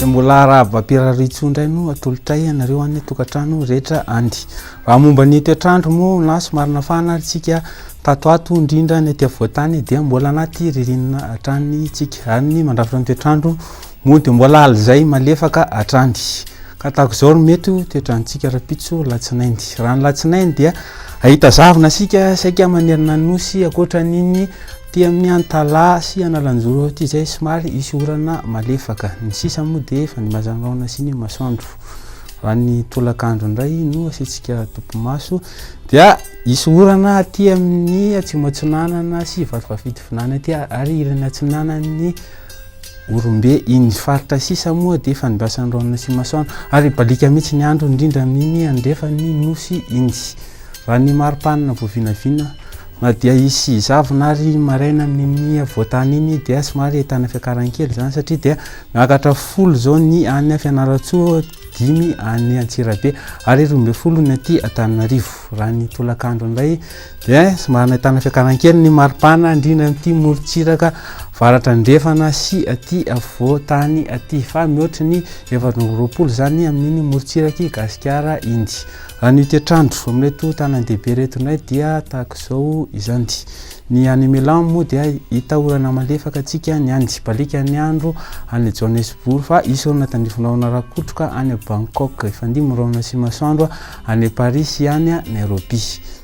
mbola arahaba pirarintso indray no atolotray ianareo any tokantrano rehetra any raha momba ny toetrandro moa na somarina fahana ary tsika tato ato indrindra ny aty avoantany dia mbola anaty ririnina hatrany tsika ary ny mandrafitra ny toetrandro Moa dia mbola aly izay malefaka hatrany. Ka tahaka izao no mety ho toetrantsika rahampitso alatsinainy. Raha ny alatsinainy dia hahita zavona isika saika manerana ny nosy ankoatra an'iny aty amin'ny Antalaha sy Analanjoro aty izay somary hisy orana malefaka. Ny sisa moa dia efa nibazangaona sy ny masoandro. Raha ny tolakandro indray no asiantsika topimaso dia hisy orana aty amin'ny Atsimo Atsinanana sy Vatovafidivonana aty ary ilany atsinanan'ny Orombe iny ny faritra sisa moa dia fanimbasan'ny raonina sy masoandro ary hibaliaka mihitsy ny andro indrindra amin'iny andrefan'ny nosy iny. Raha ny mari-panina vao vinavina na dia hisy zavona ary maraina amin'iny havoan-tany iny dia somary ahitana fiakaran'ny kely izany satria dia miakatra folo izao ny any Fianarantsoa dimy any Antsirabe ary roa ambin'ny folo ny aty Antananarivo. Raha ny tolakandro indray dia somary nahitana fiakaran'ny kely ny maripana indrindra amin'ity morontsiraka varatra andrefana sy aty afovoan-tany aty fa mihoatra ny efatra amby roapolo izany amin'iny morontsiraky Gasikara iny. Raha ny toetrandro amin'ireto tanàn-dehibe ireto indray dia tahaka izao izany. Ny any Milan moa dia hita orana malefaka antsika ny any Sipalika ny andro any Johannesburg fa hisy orana tandrify rahona rakotroka any Bangkok hifandimby ny rahona sy masoandro any Paris sy any Nairobi.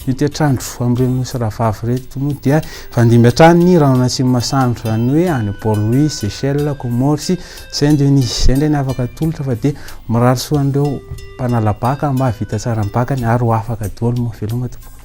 Io toetr'andro amin'ireo nosy rahavavy ireto moa dia hifandimby hatrany ny rahona sy masoandro izany hoe any Port-Louis, Seychelles, Comores sy Saint Denis. Izay indray ny afaka atolotra fa dia mirary soa an'ireo mpanala baka mba hahavita tsara ny bakany ary ho afaka daholo moa veloma tompoko.